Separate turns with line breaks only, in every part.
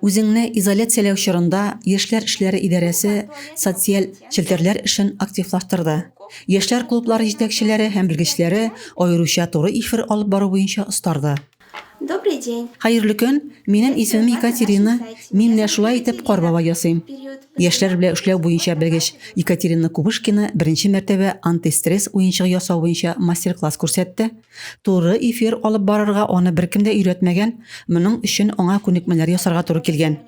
Үзеңне изоляцияләү чорында яшьләр эшләре идарәсе социаль челтәрләр эшен активлаштырды. Яшьләр клублары җитәкчеләре һәм белгечләре аеруча туры эфир алып бару буенча остарды. Добрый
день. Хәерле көн,
минем исемем Екатерина, мин менә шулай итеп кар бабай ясыйм. Яшьләр белән эшләү буенча белгеч Екатерина Кубышкина беренче мәртәбә антистресс уенчыгы ясау буенча мастер-класс күрсәтте. Туры эфир алып барырга аны беркем дә өйрәтмәгән, моның өчен аңа күнекмәләр ясарга туры килгән.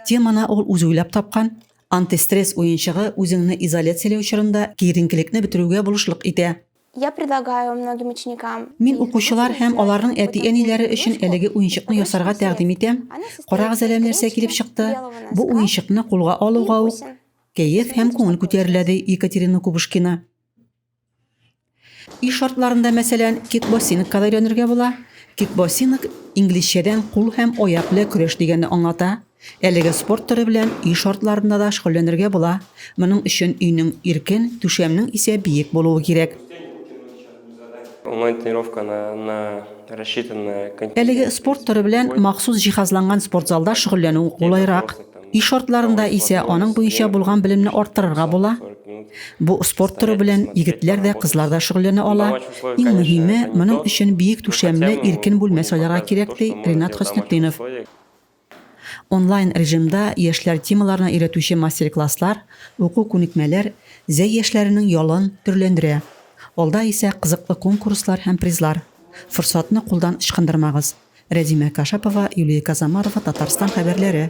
Теманы ул үзе уйлап тапкан, антистресс уенчыгы үзеңне изоляцияләү чорында киеренкелекне бетерүгә булышлык итә. Я предлагаю
многим ученикам Мин укучылар һәм
аларның әти-әниләре өчен әлеге уенчыкны ясарга тәкъдим итәм. Карагыз әле нәрсә килеп чыкты. Бу уенчыкны кулга алуга ук кәеф һәм күңел күтәрелә, ди Екатерина Кубышкина. И шартларында, мәсәлән, кикбоксингка өйрәнергә була. Кикбоксинг инглизчәдән кул һәм аяк белән көрәш дигәнне аңлата. Әлеге спорт төре белән өй шартларында да шөгыльләнергә була. Моның өчен өйнең иркен, түшәмнең исә биек булуы кирәк.
Әлеге
спорт төре белән махсус җиһазланган спортзалда шөгыльләнү кулайрак. Ил шартларында исә аның буенча булган белемне арттырырга була. Бу спорт торы белән егетләр дә, кызлар да шөгыльләнә ала. Иң мөһиме, моның өчен биек түшәмле, иркен бүлмә сайларга кирәк, ди Ринат Хөснетдинов. Онлайн режимда яшьләр темаларына өйрәтүче мастер-класслар, уку күнекмәләр Зәй яшьләренең ялын төрләндерә. Алда исә кызыклы конкурслар һәм призлар. Форсатны кулдан ычкындырмагыз! Рәзимә Кашапова, Юлия Казамарова, Татарстан хәбәрләре.